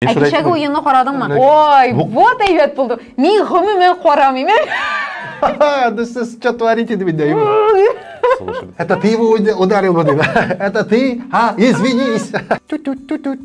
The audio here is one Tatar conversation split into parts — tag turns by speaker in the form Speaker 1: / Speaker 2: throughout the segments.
Speaker 1: Ә кичәге уенны карадыңмы? Ой, вот әйбәт булды. Мин гомумән карамыйм.
Speaker 2: Да сез что творите, дип әйтәм. Это ты его ударил, вот это ты, а, извинись. Тут-тут-тут-тут.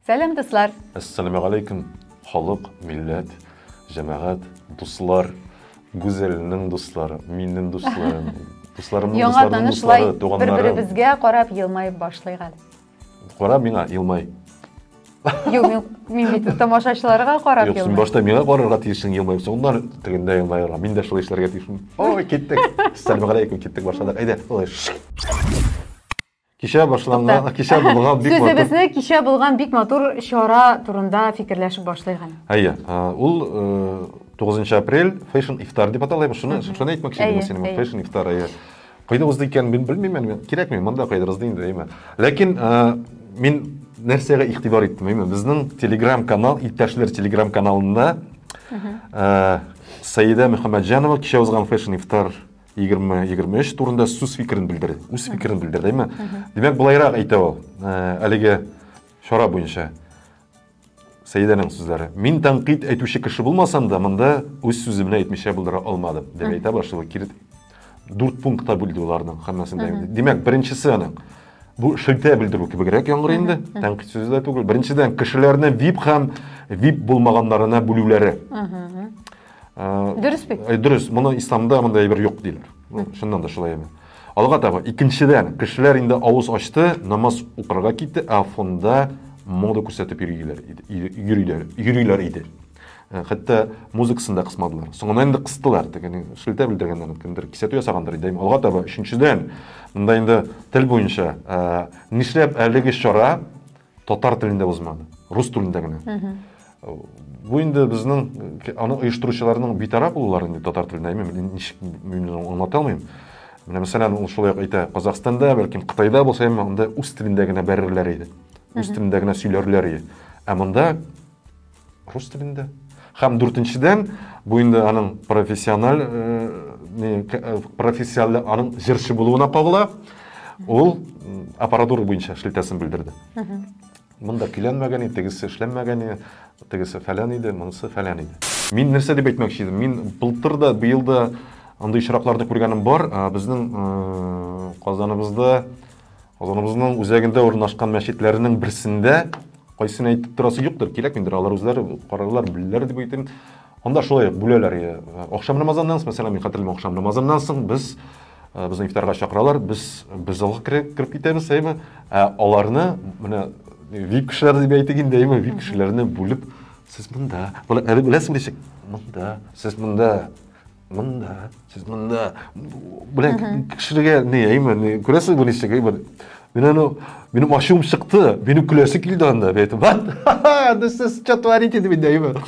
Speaker 1: Сәлам, дуслар. Ассаламу алейкум,
Speaker 2: халык, милләт, җәмәгать, дуслар, Гүзәлнең дуслары, миннең дусларым, дусларымның дусларының дуслары,
Speaker 1: туганнары. Яңа танышлар, бер-беребезгә
Speaker 2: карап
Speaker 1: елмаеп башлыйк әле. Кара миңа,
Speaker 2: елмай. Юк,
Speaker 1: мин, мин бит тамашачыларга карап Юк, син башта миңа карарга
Speaker 2: тиешсең, елмаеп, соңыннан тегендә елмаерга. Мин дә шулай эшләргә тиешмен. Ой, киттек. Сәләм алейкум, киттек башладык. Әйдә, ой. Кичә башланган, кичә булган бик матур. Сүзебезне кичә булган бик
Speaker 1: матур чара турында фикерләшеп башлыйк әле. Әйе, ул
Speaker 2: 9 э, апрель Fashion Iftar дип атала, шуны шуны әйтмәкче идем синең. Fashion Iftar әйе. Кайда узды икән, мин белмим, мин кирәкми, монда кайда узды инде, әйме. Ләкин э, мин нәрсәгә игътибар иттем, әйме. Безнең Telegram канал, иптәшләр Telegram каналында э, Саида Мөхәммәтҗанова кичә узган фэшн ифтар 20-23 турында сүз фикерен белдерде. Үз фикерен белдерде, әйме. Димәк, булайрак әйтә ул, э, әлеге чара буенча. Сәидәнең сүзләре. Мин тәнкыйть әйтүче кеше булмасам да, монда үз сүземне әйтмичә булдыра алмадым, дип әйтә башлый. Кирит дүрт пунктка бүлде уларның һәммәсен дә. Димәк, беренчесе аның бу шелтә белдерү кебегрәк яңгырый инде, тәнкыйть сүзе дә түгел. Беренчедән, кешеләрне VIP һәм VIP булмаганнарына бүлүләре. Дөрес
Speaker 1: бит. Э, дөрес, моны исламда
Speaker 2: мондай әйбер юк диләр. Ну, чыннан да шулай әйбер. Алга таба икенчедән, кешеләр инде авыз ачты, намаз укырга китте, ә фонда мода күрсәтеп йөриләр иде. Йөриләр, йөриләр иде. Э, хәтта музыкасын да кысмадылар. Соңыннан инде кыстылар, дигән шелтә белдергәннәр, кемдер кисәтү ясагандыр иде. Алга таба өченчедән, монда инде тел буенча, э, нишләп әлеге чара Татар телендә узмады, рус телендә генә. Бу инде безнең аны оештыручыларның битараф булулары инде татар телендә, мин ничек мин аңлата алмыйм. Менә мәсәлән, ул шулай ук әйтә, Казахстанда, бәлкем Кытайда булса, әмма анда үз телендә генә бәрерләр иде. Үз телендә генә сөйләрләр иде. Ә монда рус телендә һәм дүртенчедән бу инде аның профессиональ профессиональ аның җырчы булуына кагыла ул аппаратура буенча шелтәсен белдерде монда көйләнмәгән иде тегесе эшләнмәгән иде тегесе фәлән иде монысы фәлән иде мин нәрсә дип әйтмәкче идем мин былтыр да быел да андый очракларны күргәнем бар безнең казаныбызда Казаныбызның үзәгендә урнашкан мәчетләрнең берсендә кайсын әйтеп торасы юктыр, кирәк инде, алар үзләре карарлар, белерләр дип әйтим. Анда шулай ук бүләләр. Ахшам намазыннан соң, мәсәлән, мин хәтерлим, ахшам намазыннан соң без э, безне ифтарга чакыралар, без без залга кереп китәбез, әйме? Ә аларны менә VIP кешеләр дип әйтик инде, әйме? VIP кешеләрне бүлеп, сез монда, әле беләсең ничек? Монда, сез монда мында сез мында белән кешеләргә не именно күрәсез бу ничек именно мин аны минем ачуым чыкты минем көләсе килде анда мен айттым сез что творите деп инде именно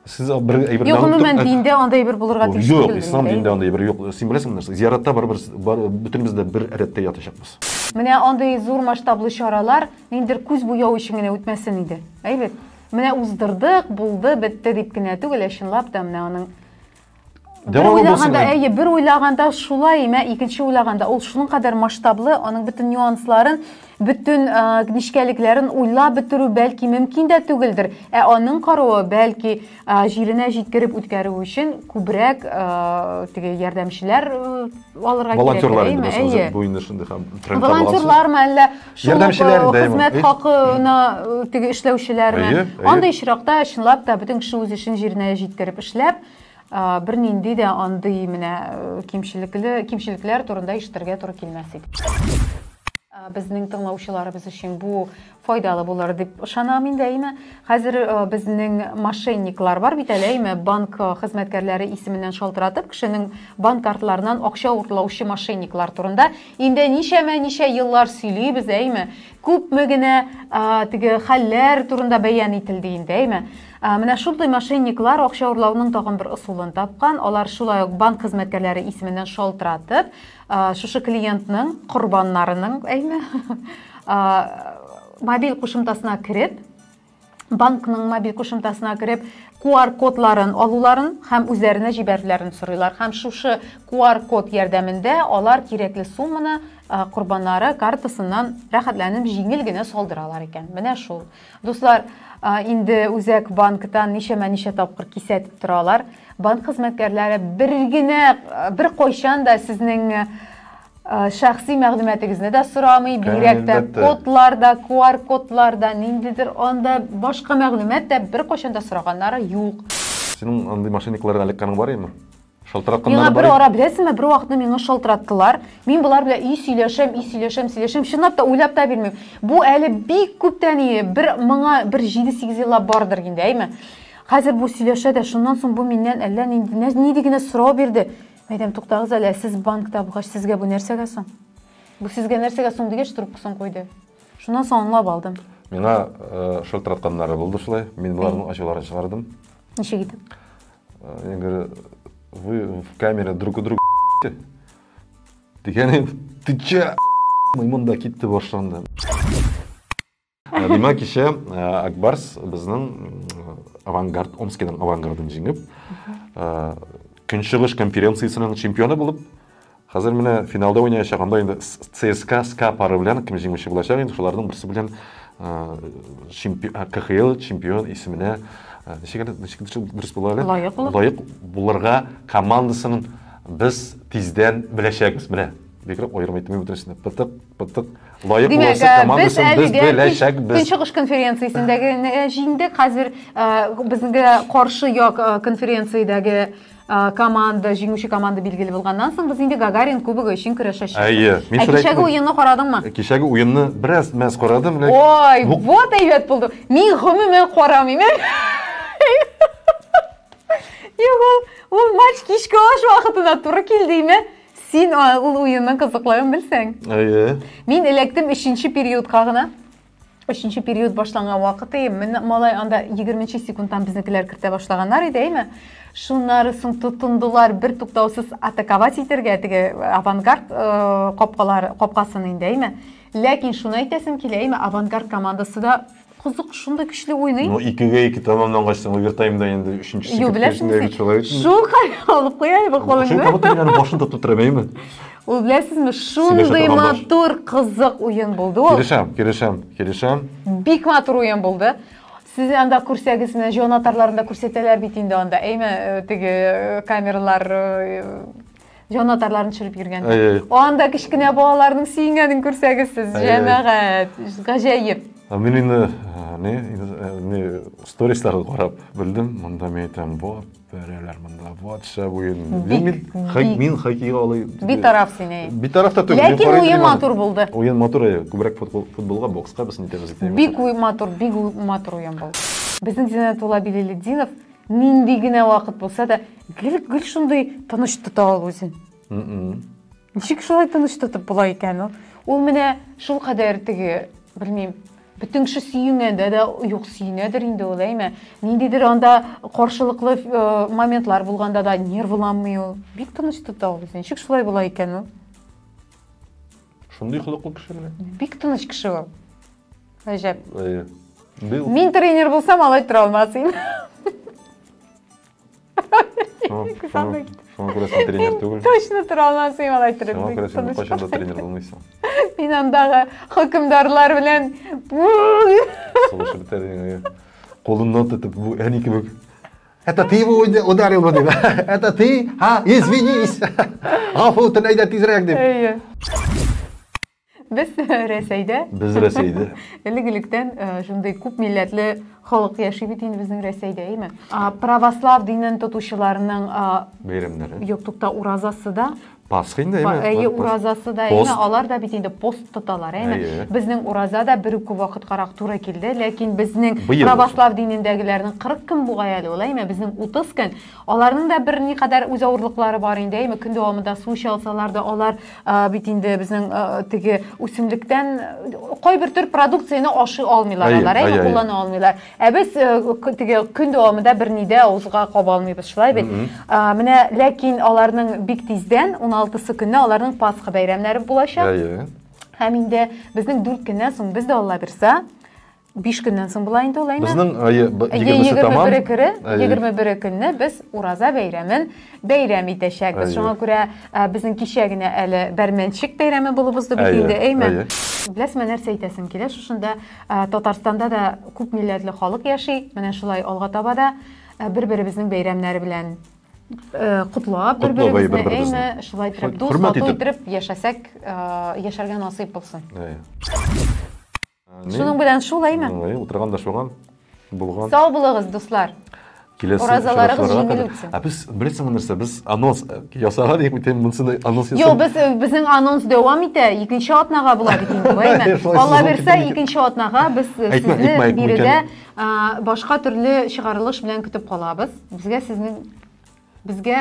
Speaker 2: сез бер әйбер юк гомумән динде
Speaker 1: андай бер булырга тиеш юк ислам динде андай бер юк
Speaker 2: син беләсеңме нәрсә зияратта барыбер бөтенебез дә бер рәттә ятачакбыз менә андый
Speaker 1: зур масштаблы чаралар ниндидер күз буяу өчен генә үтмәсен иде әйбәт менә уздырдык булды бетте дип кенә түгел ә чынлап та менә аның Бер уйлаганда, әйе, бер уйлаганда шулай, мә икенче уйлаганда ул шуның кадәр масштаблы, аның бөтен нюансларын, бөтен нечкәлекләрен уйлап бетерү бәлки мөмкин дә түгелдер. Ә аның каруы бәлки җиренә җиткереп үткәрү өчен күбрәк теге ярдәмчеләр алырга кирәк. Волонтерлар инде бу
Speaker 2: инде шундый һәм волонтерлармы әллә
Speaker 1: Шул ук, Ярдәмчеләр э, дә ему.
Speaker 2: хезмәт Эх. хакына
Speaker 1: э, теге эшләүчеләрме? Әйе, әйе. Андый очракта чынлап та бөтен кеше үз эшен җиренә җиткереп эшләп, э, бернинди дә андый менә э, кимчелекле кимчелекләр турында ишетергә туры килмәс иде. Э, Безнең тыңлаучыларыбыз өчен бу файдалы булыр дип ышанам инде, әйме? Хәзер э, безнең мошенниклар бар бит әле, әйме? Банк э, хезмәткәрләре исеменнән шалтыратып, кешенең банк картларыннан акча уртлаучы мошенниклар турында Инде ничәмә ничә еллар сөйлибез, әйме? Күпме генә теге хәлләр турында бәян ителде инде, әйме? Менә шундый мошенниклар акча урлауның тагын бер ысулын тапкан. Алар шулай ук банк хезмәткәрләре исеменнән шалтыратып, шушы клиентның корбаннарының, әйме, мобиль кушымтасына кереп, банкның мобиль кушымтасына кереп QR-кодларын алуларын һәм үзләренә җибәрүләрен сорыйлар. Һәм шушы QR-код ярдәмендә алар кирәкле сумманы корбаннары картасыннан рәхәтләнеп җиңел генә салдыралар икән. Менә шул. Дуслар, инде үзәк банктан ничәмә ничә тапкыр кисәтеп торалар. Банк хезмәткәрләре бер генә бер кайчан да сезнең Э, шәхси мәгълүматыгызны да сорамый, бигрәк тә кодлар да, QR кодлар да, ниндидер анда башка мәгълүмат та беркайчан да сораганнары юк. Синең андый
Speaker 2: мошенниклардан эләккәнең бар имени? Шалтыратканнар Миңа бер ара беләсеңме,
Speaker 1: бер
Speaker 2: вакытны
Speaker 1: миңа шалтыраттылар. Мин болар белән и сөйләшәм, и сөйләшәм, сөйләшәм, чынлап та уйлап та бирмим. Бу әле бик күптән ие, бер моңа бер 7-8 еллап бардыр инде, әйме? Хәзер бу сөйләшә дә, шуннан соң бу миннән әллә нинди нидигенә сорау бирде. Әйдәм, туктагыз әле, сез банк табгач, сезгә бу нәрсәгә соң? Бу сезгә нәрсәгә соң дигәч, трубкасын куйды. Шуннан соң аңлап алдым. Миңа
Speaker 2: э, шылтыратканнары булды шулай. Мин боларның ачуларын чыгардым. Ничек итеп?
Speaker 1: Э, я
Speaker 2: говорю, вы в камере друг у друга дигән ты че мында китте башланды Ә, димәк кичә ә, акбарс безнең авангард омскиның авангардын җиңеп ә, көнчыгыш конференциясенең чемпионы булып хәзер менә финалда уйнаячак анда инде цска ска пары белән кем җиңүче булачак инде шуларның берсе белән кхл чемпион исеменә ничек ничек дөрес була әле лаек булырга командасының без тиздән беләчәкбез менә Бигрәк аерым әйтте, мин бүтән сине пытык, пытык, лаек Димәк, буласы ә, команда өчен без әлегә беләчәкбез. Көнчыгыш конференциясендәге
Speaker 1: ә, җиңдек, хәзер ә, безгә каршы як ә, конференциядәге ә, команда, җиңүче команда билгеле булганнан соң, без инде Гагарин кубогы өчен көрәшәчәкбез. Әйе, мин Ә шулай кичәге әйттем. уенны карадыңмы? Кичәге уенны
Speaker 2: бераз мәз карадым, ләкин Ой, бу- вот
Speaker 1: әйбәт булды. Мин гомумән карамыйм. Юк, ул, ул матч кичке аш вакытына туры килдеме? Син а, ул уенның кызыклыгын белсәң. Әйе. Мин эләктем өченче периодка гына. Өченче период башланган вакыты, мен- малай анда 20 секундтан безнекеләр кертә башлаганнар иде, әйме? Шуннары соң тотындылар бер туктаусыз атаковать итәргә теге э, авангард э, капкалар капкасын инде, әйме? Ләкин шуны әйтәсем килә, әйме? Авангард командасы да Кызык, шундый көчле уйный. Ну, икегә ике
Speaker 2: тәмамлангач, соң овертаймда инде өченчесе Юк, беләсеңме, бит шулай бит. Шул хәл алып
Speaker 1: куяйбы Шул кулыңны. кабат мин башын тотып
Speaker 2: тора бәйме? Ул беләсезме,
Speaker 1: шундый торган баш. матур, кызык уен булды ул. Килешәм, килешәм, килешәм.
Speaker 2: Бик матур
Speaker 1: уен булды. Сез анда күрсәгез, менә җон атарларында күрсәтәләр бит инде анда. Әйме, э, теге э, камералар э, җанатарларын төшереп йөргән анда кечкенә балаларның сөенгәнен күрсәгез сез җәмәгать гаҗәеп мин инде
Speaker 2: не не сторисларга карап белдем монда мин әйтәм вот бәрәләр монда вот шәп уен мин хоккейга алай битараф син әй
Speaker 1: битараф та түгел ләкин
Speaker 2: уен матур
Speaker 1: булды уен матур күбрәк
Speaker 2: футболга бокска без нитәбез бик матур бик
Speaker 1: матур уен булды безнең зиннәтулла биләлетдинов Нинди генә вакыт булса да, гел гел шундый тыныч тота ул үзен. Ничек шулай тыныч тотып була икән ул? Ул менә шул кадәр теге, белмим, бөтен кеше сөенгәндә дә юк сөенәдер инде ул, әйме? Ниндидер анда каршылыклы э, моментлар булганда да нервланмый ул. Бик тыныч тота ул үзен. Ничек шулай була икән ул?
Speaker 2: Шундый холыклы кеше менә. Бик тыныч кеше ул.
Speaker 1: Гаҗәп. Әйе. Бил. Мин тренер булсам, алай тора алмас идем.
Speaker 2: Шуңа күрә син тренер түгел. Точно тора алмас идем
Speaker 1: алай торып. Шуңа күрә син кайчан да
Speaker 2: тренер булмыйсың. Мин андагы
Speaker 1: хөкемдарлар белән сулышып
Speaker 2: бетәрдең. Кулыннан тотып, бу әни кебек. Это ты его ударил бы, да? Это ты? А, извинись! Ғафу, тын әйдә тизрәк дип. Әйе.
Speaker 1: Без Рәсәйдә. Без Рәсәйдә. Элек-электән шундый күп милләтле халык яши бит инде безнең Рәсәйдә, әйме? Православ динен тотучыларның бәйрәмнәре.
Speaker 2: Юк, тукта,
Speaker 1: уразасы да. Пасха инде, әйме?
Speaker 2: Әйе, уразасы да, әйме,
Speaker 1: алар да бит инде пост тоталар, әйме? Безнең ураза да бер үк вакыткарак туры килде, ләкин безнең православ динендәгеләрнең 40 көн бугай әле ул, әйме? Безнең 30 көн. Аларның да бер ни кадәр үз авырлыклары бар инде, әйме? Көн дәвамында су эчә алсалар да, алар бит инде безнең теге үсемлектән кайбер төр продукцияне ашый алмыйлар алар, әйме? Куллана алмыйлар. Ә без э, теге көн дәвамында берни дә авызга каба алмыйбыз, шулай бит? А, Менә ләкин аларның бик тиздән 16-сы көнне аларның Пасха бәйрәмнәре булачак. Әйе. Һәм инде безнең 4 көннән соң без дә Алла бирсә 5 көннән соң була инде ул әйме? Безнең әйе, б- Әйе,
Speaker 2: 20-се тамам. 21 көре, Әйе. 21
Speaker 1: көнне без Ураза бәйрәмен бәйрәм итәчәкбез. Әйе. Шуңа күрә ә, безнең кичә генә әле бәрмәнчек бәйрәме булып узды бит Әйе, инде, әйме? әйе. Беләсеңме, нәрсә әйтәсем килә? Шушында Ә, Татарстанда да күп милләтле халык яши. Менә шулай алга таба да ә, бер-беребезнең бәйрәмнәре белән ә, котлап, Котлап, әй, бер-беребезне, бер-беребезне. әйме, шулай итеп, Шулай, дус, хөрмәт тату итеп. итеп яшәсәк, ә, яшәргә насыйп булсын. Әй. Ә, ни? Шуның белән шул, әйме? Әй, Утырган да шуган
Speaker 2: булган. Сау булыгыз, дуслар!
Speaker 1: киләсе Уразаларыгыз җиңел үтсен. Ә без беләсеңме нәрсә,
Speaker 2: без анонс э, ясаган идек бит, монсыны анонс ясап. Юк, без э, безнең анонс
Speaker 1: дәвам итә, икенче атнага була бит инде, әйме? Алла бирсә, икенче атнага без э, сезне биредә башка төрле чыгарылыш белән көтеп калабыз. Безгә сезнең безгә